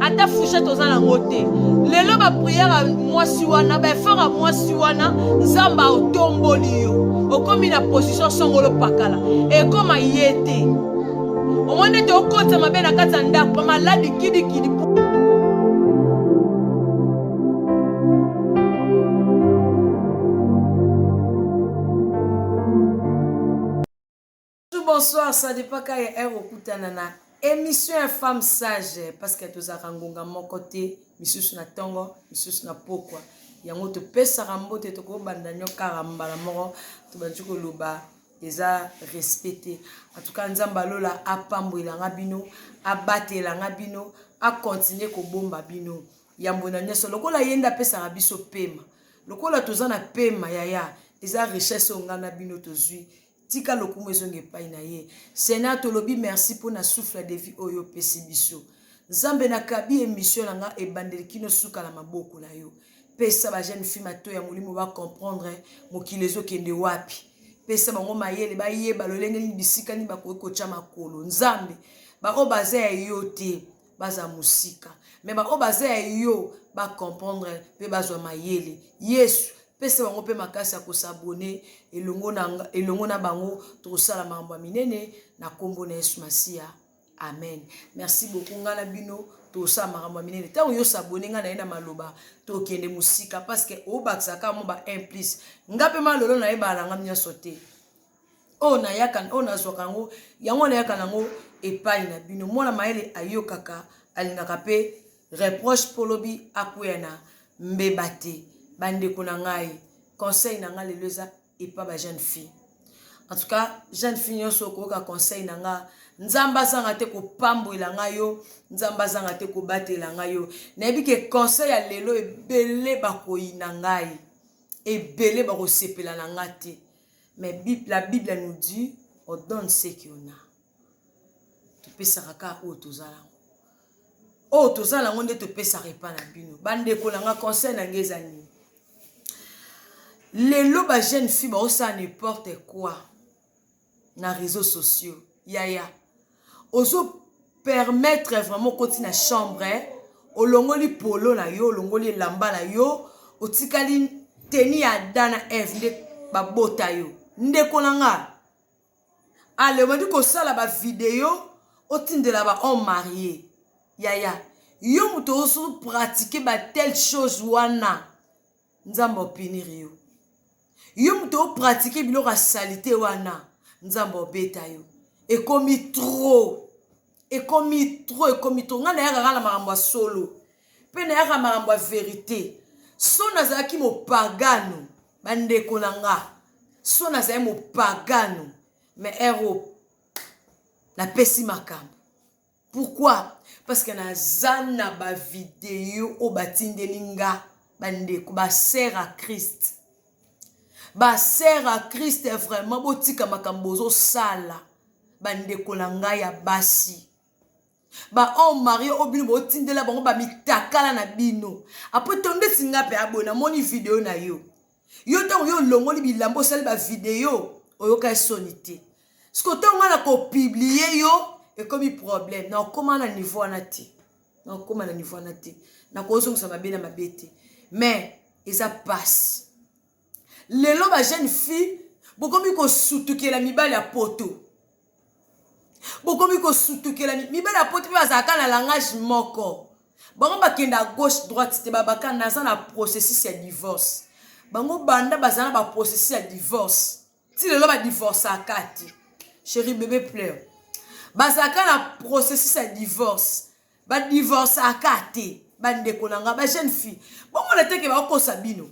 ata fouchette oza nango te lelo bapriere ya mwasi wana baefort ya mwasi wana nzambe aotomboli yo okomi na position songolo pakala ekoma ye te omoni ete okotisa mabe na kati ya ndako bamaladi kidikidi Bonjour, bonsoir, ça dépend quand est heure okutana na émission ya femme sage parce que tozalaka ngonga moko te misusu na ntongo misusu na pokwa yango topesaka mbote tokobanda nyo kaka mbala moko tobandi koloba eza respect te en tout cas nzambe alola apambwelanga bino abatelanga bino akontinue kobomba bino yambo na nyonso lokola ye nde apesaka biso pema lokola toza na pema yaya eza richesse oyo ngai na bino tozwi Tika lokumu ezonga epai na ye. Seigneur, tolobi merci mpo na souffle de vie oyo opesi biso. Nzambe, nakabi emission na nga ebandeli kino suka na maboko na yo. Pesa ba jeune fille mato ya molimo ba comprendre mokili ezokende wapi. Pesa bango mayele bayeba lolenge nini bisika nini bakoki kotya makolo. Nzambe, baoyo baza ya yo te baza mosika, me baoyo baza ya yo bacomprendre mpe bazwa mayele. Yesu, Pesa bango mpe makasi ya kosabone elongo na, elongo na bango. Tokosala makambo ya minene na nkombo na Yesu Masiya. Amen. Merci beaucoup. Ngai na bino tosala makambo ya minene. Ntango yo sabone ngai na ye na maloba, tokende mosika parce que obakisaka mwa ba 1 plus. Ngai mpe malolo nayebana na ngai nyonso te. oyo nayaka oyo nazwaka yango yango nayaka nango epai na bino mwana mayele ayokaka alingaka mpe reproche mpo lobi akweya na mbeba te bandeko na ngai conseil na ngai lelo eza epa ba jeune fille en tout cas jeune fille nyonso okoyoka conseil na ngai nzambe azanga te kopambwela ngai yo nzambe azanga te kobatela ngai yo nayebi ke conseil ya lelo ebele bakoyina ngai ebele bakosepela na ngai te Mais la Bible nous dit, on donne ce qu'on a. Topesaka kaka oyo toza nango. Oyo toza nango nde topesaka epa na bino. Bandeko na nga conseil na ngai eza nini? Lelo ba jeune fille baosala n'importe quoi na réseaux sociaux. Yaya, ozo permettre vraiment okoti na chambre olongoli polo na yo olongoli elamba na yo otikali teni ya ada na eve nde babota yo ndeko na nga ale obandi kosala bavideo otindela bahomme marie yaya yo moto ozo pratike batelle chose wana nzambe opinir yo yo moto opratike biloko ya salite wana nzambe obeta yo ekomi tro ekomi tro ekomi tro ngai nayaka kaka na makambo ya solo mpe nayaka makambo ya verite so nazalaki mopagano bandeko na nga so nazali mopagano me ero napesi makambo Pourquoi? Parce que naza na ba video oyo batindeli nga bandeko ba sœur à Christ. Ba sœur à Christ vraiment botika makambo bozosala bandeko na ngai ya basi. bahomme marie oyo bino botindela bango bamitakala na bino apres to ndeti nga mpe aboye namoni video na yo yo ntango yo olongoli bilamba osali bavideo oyoka esoni te siko ntango ngai na kopiblie yo ekomi problème na okoma na niveau wana te na okoma na niveau wana te na kozongisa mabe na mabe te mais eza pasi lelo ba jeune fille bokomi kosutukela mibali ya poto bokomi kosutukela mibali ya poto mpe bazalaka na langage moko bango bakenda gauche droite te babaka naza na processus ya divorce bango banda baza na baprocessus ya divorce ti lelo badivorceaka te cheri bebe pleure bazalaka na processus ya divorce badivorceaka te bandeko na ngai bajeune fille bomona teke bakokosa bino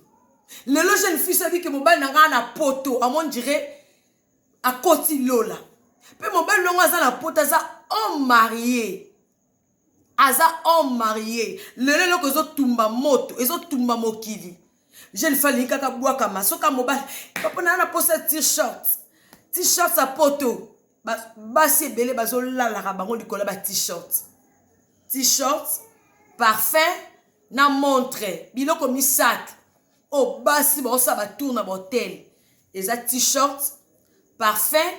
lelo jeune fille soki ke mobali na ngai na poto amon dirait akoti lola mpe mobali longo aza na poto aza homme marie aza homme marie lelo eloko ezotumba moto ezotumba mokili jeune femme alingi kaka bwakama soki mobali papa naa na mposa t-shirt t-shirt ya poto basi ebele bazolalaka bango likolo ya ba t-shirt t-shirt parfum na montre biloko misato oyo oh, basi baosala batour na bahotel eza t-shirt parfum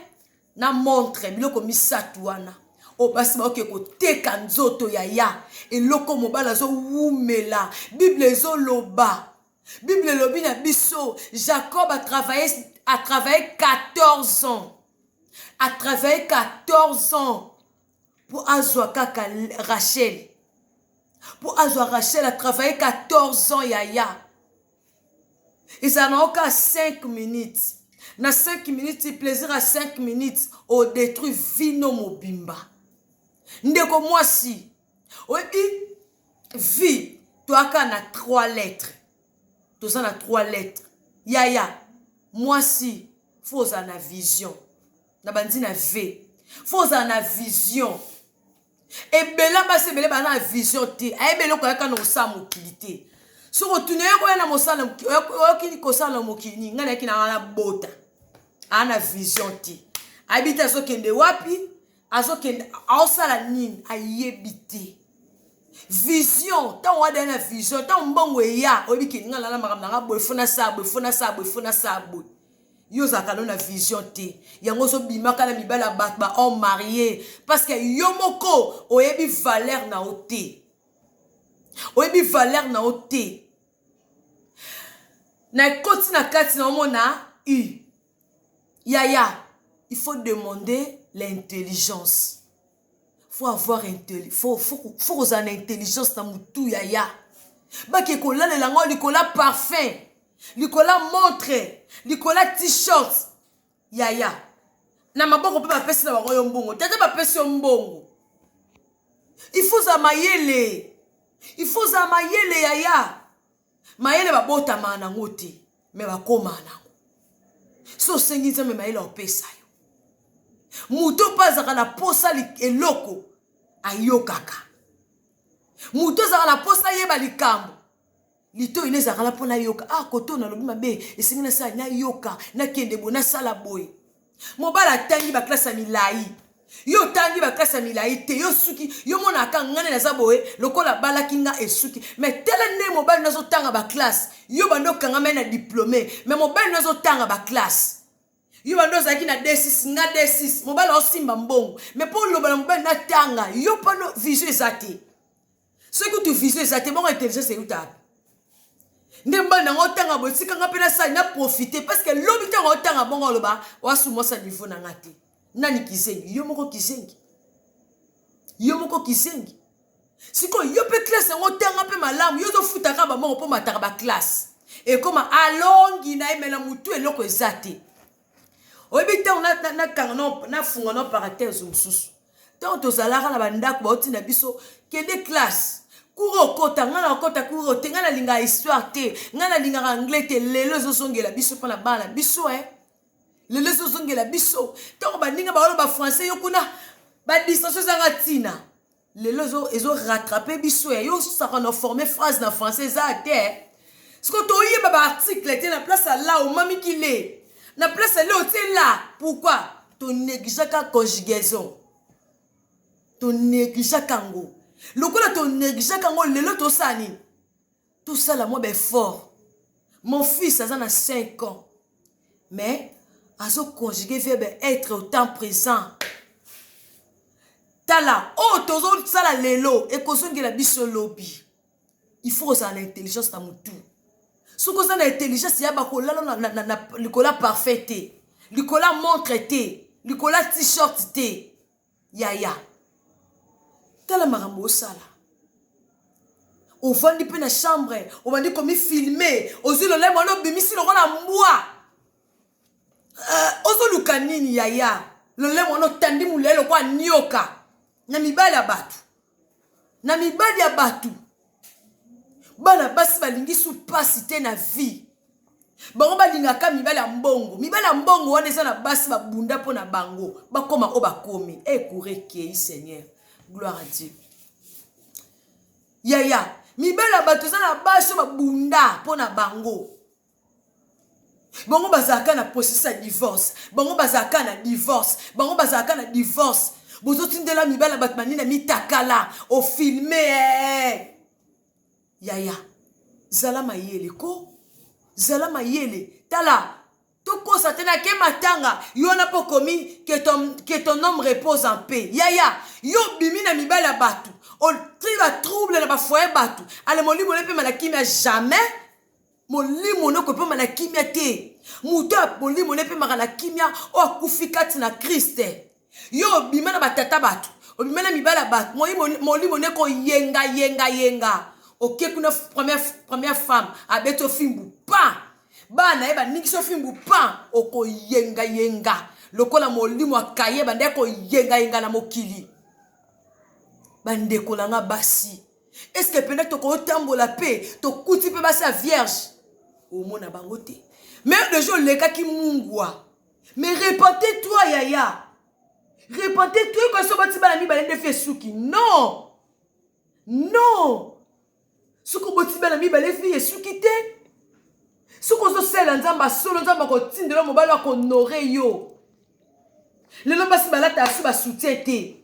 na montre biloko misato wana oyo basi baoke koteka nzoto yaya eloko mobali azowumela bible ezoloba bible elobi na biso jacob atravaille atravaille 14 ans atravaille 14 ans po azwa kaka rachel po azwa rachel atravaille 14 ans yaya ezala na oka 5 minutes na 5 minutes plaisir ya 5 minutes odetruit vino mobimba ndeko mwasi oyebi vie toyaka na 3 lettres toza na 3 lettres yaya mwasi fo ozala na vision na bandi na ve fo ozala na vision ebela basi ebele baa na vision te ayebele eloko yaka na kosala mokili te soki otuna ye koya na mosala oyokini kosala na mokili nini ngai nayaki na wana bota aa na vision te ayebi te azokende wapi azokende aosala nini ayebi te vision ntango wadaya na vision ntango mbongo eya oyebi ke ngai nalala makambo na ngai boye fona saa boye fona saa boye fona saa boye yo ozalaka no na vision te yango ozobimaka na mibali ya bato ba homme marie parce que yo moko oyebi valeur na yo te oyebi valeur na yo te na ekoti na kati na omona u yaya il faut demander l'intelligence faut avoir intelli faut faut faut kozala na intelligence na mutu yaya bake kolalela ngo likola parfum likola montre likola t-shirt yaya na maboko mpe bapesi na bango yo mbongo tata bapesi yo mbongo il faut ozala mayele il faut ozala mayele yaya Mayele babotamaa nango te mais bakomaa nango. Soki osengi Nzambe mayele akopesa yo. Moto oyo mpe azalaka na posa eloko ayokaka. Moto azalaka na posa ayeba likambo litoyi nde ezalaka na mpo nayoka ah koto nalobi mabe esengi nasala nayoka nakende boye nasala boye mobali atangi baklase ya milai yo otangi baklase ya milai te yo suki yo monaka ngai nde naza boye lokola abalaki ngai esuki me tala nde mobali nde azotanga baklase yo bando okangama ye na diplome me mobali nde azotanga baklase yo bando ozalaki na d6 nga d6 mobali aosimba mbongo me mpo oloba na mobali natanga yo mpano vision eza te soki kutu vision eza te bongo intelligence euta wapi nde mobali nanga otanga boye tika nga mpe nasali na profite parce que lobi ntango otanga bongo oloba wasumwasa niveau na nga te nani kizengi yo moko kizengi yo moko kizengi sikoyo yo mpe klase yango otanga mpe malamu yo ozofutaka bamongo mpo mataka baklase ekoma alongi na emela motu eloko eza te oyebi ntango nakanga nafunga na paratese mosusu ntango tozalaka na bandako bauti na biso kende classe kura okota ngai nakota kura ote ngai nalingaka histoire te ngai nalingaka anglais te lelo ezozongela biso mpo na bana biso e eh? lelo ezozongela biso ntango baninga baoloba français yo kuna badistension ezanga ntina Lelo ezo ezo rattraper biso ya yo saka na former phrase na français eza te. Siko to yeba ba article te na place à la omami ki le. Na place à le otie la. Pourquoi? To négligeaka conjugaison. To négligeaka ngo. Lokola to négligeaka ngo lelo to sani. tosala mwa baeffort mon fils aza na 5 ans mais azoconjugue verbe être au temps présent tala oyo oh, tozosala lelo ekozongela biso lobi il faut kozala na intelligence na motu soki oza na intelligence ya bakolala na, na, na, na likola parfait te likola montre te likola t-shirt te Yaya tala makambo osala ovandi mpe na chambre obandi komifilme ozwi lolemo wana obimisi lokola mbwa uh, ozoluka nini yaya lolemo wana otandi molai lokola nioka na mibali ya bato na mibali ya bato bana basi balingi su mpasi te na vie bango balingaka mibali ya mbongo mibali ya mbongo wana eza na basi babunda mpo na bango bakoma oyo bakomi ekoura eh, ekei seigneur gloire à dieu yaya mibali ya bato eza na basi oyo babunda mpo na bango bango bazalaka na processus ya divorce bango bazalaka na divorce bango bazalaka na divorce bozotindela mibala bato banina mitakala ofilme eh. yaya zala mayele ko zala mayele tala tokosa te nake matanga yo wana mpo okomi que ton, que ton homme repose en paix yaya yo obimi na mibali ya bato otri batrouble na bafoye bato ale molimo ne mpe malakimi ya jamais Molimo no ekopema na kimia te. Moto oyo molimo no epemaka na kimia, oyo akufi kati na Christ. Yo obima na batata bato, obima na mibali ya bato, molimo no ekoyenga yenga yenga. Oke kuna première, première femme abeti ofimbu pa bana ye baningisi ofimbu pa okoyenga yenga lokola molimo ya kaye banda ekoyenga yenga na mokili. Bandeko na nga basi. est ce que pena tokotambola mpe tokuti mpe basi ya vierge omona bango te meme deja olekaki mungwa mais repente toi yaya repente toi ekoki so bati bana mibale nde fi esuki non non soki oboti bana mibale fi esuki te soki ozosalela nzambe asolo nzambe akotindela mobali akohonore yo lelo basi balataka so basoutien te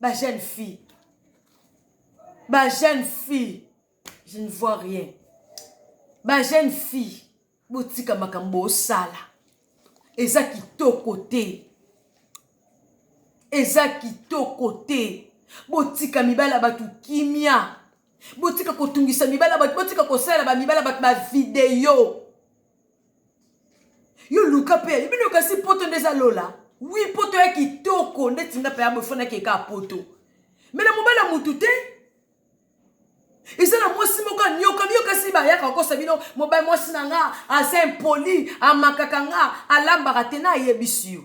ba jeune fille ba jeune fille je ne vois rien ba jeune fille botika makambo osala eza kitoko te eza kitoko te botika mibali ya bato kimia botika kotungisa mibali ya bato botika kosalela bamibali ya bato bavideo yo luka mpe bino kasi poto nde eza lola wi poto ya kitoko ndeti nga mpe ya bofonaki eka poto me na mobali ya motu te eza na mwasi moko anyoka biyokasi bayaka kokosa bino mobali mwasi na nga aza impoli amakaka nga alambaka te nayebisi yo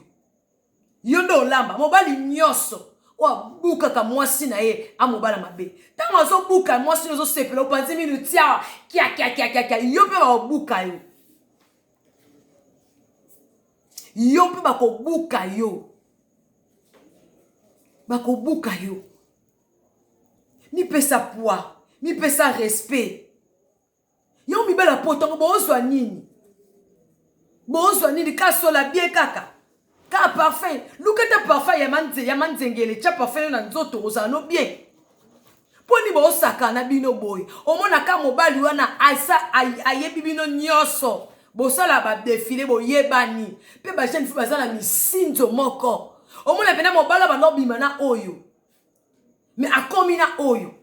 Yo nde olamba mobali nyonso oyo abukaka mwasi na ye amobala mabe ntango azobuka mwasi oyo ozosepela opanzi minu tia kiakiakiakiakia yo mpe baobuka yo yo mpe bakobuka yo bakobuka yo mipesa poids mipesa respect yo mibali ya poto yango bozwa nini bozwa nini kasola bie kaka ka parfum luka ta parfum ya manze ya manzengele tya parfum yo na nzoto ozala no bien mpo nini bosakana bino boye omonaka mobali wana asa ayebi bino nyonso bosala badefile boyebani mpe bajeune fi baza na misinzo moko omona mpena mobali abanda obima na oyo me akomi na oyo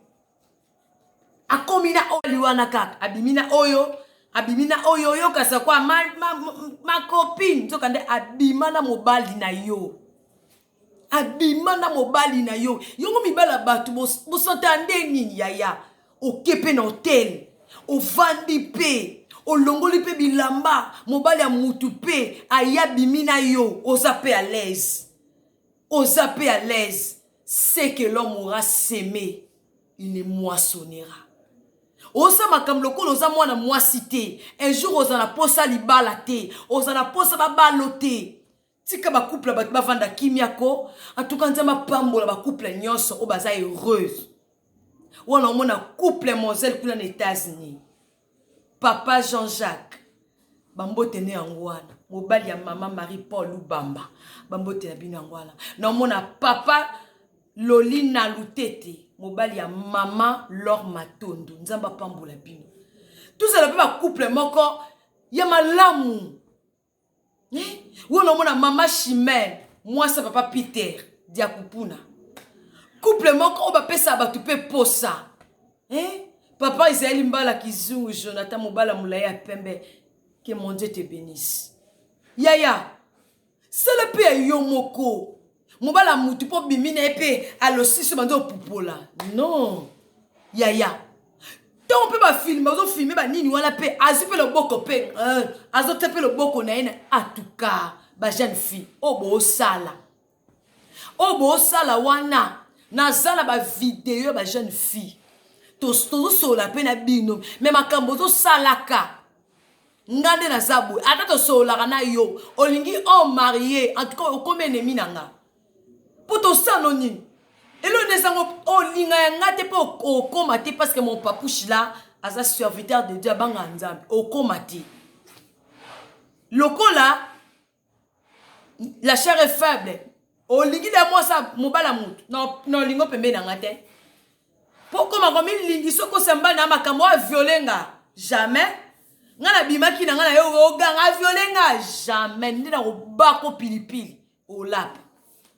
akomi na oyo aliwana kaka abimi na oyo abimi na oyo oyokasa kwa ma, ma, ma, ma copine nzoka nde abima na mobali na yo abima na mobali na yo yongo mibala bato bosanta bos, nde nini yaya oke mpe na hotel ovandi mpe olongoli mpe bilamba mobali ya mutu mpe aya bimi na yo oza mpe alaise Oza pe à l'aise ce que l'homme aura seme il ne moissonnera oza makambo lokola oza mwana mwasi te un jour oza na posa libala te oza na posa babalo te tika bacouple bato bavanda kimia ko antuka nzambe apambola bacouple nyonso oyo baza heureuse wana omona couple moselle kuna na etats-unis papa jean jacques bambote nde yango wana mobali ya mama marie paul lubamba bambote na bino yango wana naomona papa lolina lutete mobali ya mama lor matondo nzambe apambola bino tozala mpe bacouple moko ya malamu wana omona mama chimel mwasi ya papa peter diakupuna couple moko oyo bapesaka bato mpe posa eh? papa ezali mbala kizungu jonathan mobala molai ya pembe que mon dieu te benisse yaya sala mpe ya yo moko mobala mutu mpo bimi na ye mpe alosiso banza opupola non yaya ntango mpe bafilme bazofilme banini wana mpe azwi mpe loboko mpe eh, azotya mpe loboko na ye na atuka bajeune fille oyo boosala oyo boosala wana naza na bavideo ya bajeune fille tozosolola mpe na bino me makambo ozosalaka nga nde naza boye ata tosololaka na yo olingi o marie en tout cas okomi enemi na nga mpo tosano nini elo nde ezango olinga ya nga te mpo okoma te parce que mon papouche la aza serviteur de dieu abanga ya nzambe okoma te lokola la chair est faible olingi na mwasi mobala motu na olingo pembeni na nga te mpo okoma komilingi soki osamba na makambo oyo aviole nga jamais nga nabimaki na nga na yo oganga aviole nga jamais nde nakobako pilipili olapa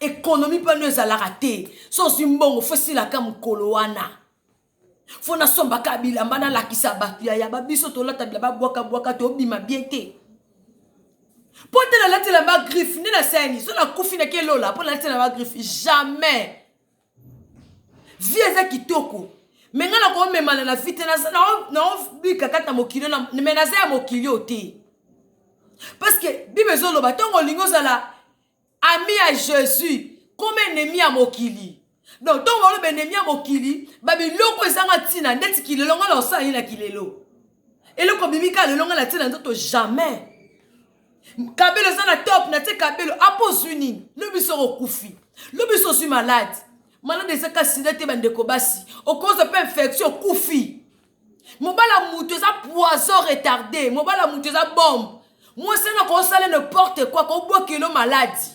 Economie pano ezalaka te so ozwi mbongo fo esilaka mokolo wana fo nasombaka bilamba nalakisa bato ya yaba biso tolata bilamba bwakabwaka tobima bie te mpo te nalati elamba griffe nde nasani so nakufi nakelola mpo nalati elamba griffe jamais vie eza kitoko me ngai nakomemana na vi te naobika kati na mokili me naza ya mokili oyo te parceke bible ezoloba ntango olingi ozala ami ya jesus koma enemi ya mokili donc ntongo baloba enemi ya mokili babiloko ezanga ntina ndeti kilelo ngai na osala ye na kilelo eloko bimi kaka lelo ngai na ntina nzoto jamais kabelo eza na top na tie kabelo apo ozwi nini lobi soko okufi lobi so ozwi malade malade ezaka sida te bandeko basi okozwa mpe infection okufi mobala mutu eza poison retarde mobala mutu eza bombe mwasi wana kosala ne porte kua kobwakelo maladi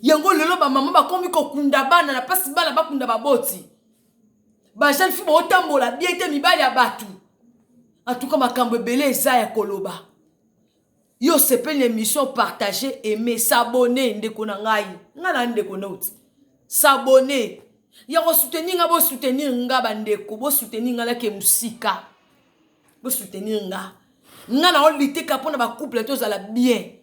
yango lelo bamama bakomi kokunda bana na mpasi bana bakunda baboti bajeune fi baotambola bie te mibali ya bato antuka makambo ebele eza ya koloba Yo osepeli na emission partage aime s'abonner ndeko na ngai ngai na ndeko noti s'abonner ya ko soutenir nga bo soutenir nga ba ndeko bo soutenir nga na ke musika bo soutenir nga nga na olite ka pona ba couple tozala bien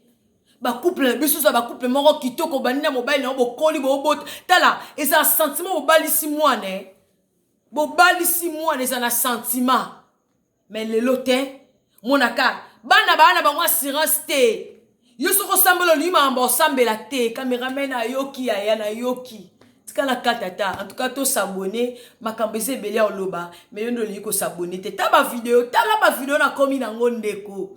ba couple na biso za ba couple moko kitoko bandi na mobali na yo bokoli bobota tala eza sentiment bobalisi mwana eh bobalisi mwana eza na sentiment mais lelo te monaka bana baa na bango assurance te yo soki osambela olingi makambo osambela te cameraman ayoki yaya nayoki tikala kata ta en tout cas tosabone makambo eza ebele ya oloba me yo nde olingi kosabone te ta bavideo tala bavideo nakomi nango ndeko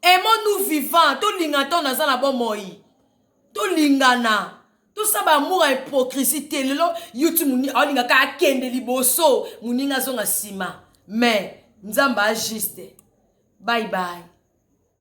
emo nous vivant tolinga ntango naza na bomoi tolingana tosala baamour ya hypocrisie te lelo yuti alingaka akende liboso moninga azonga nsima mais nzambe ajuste bye bye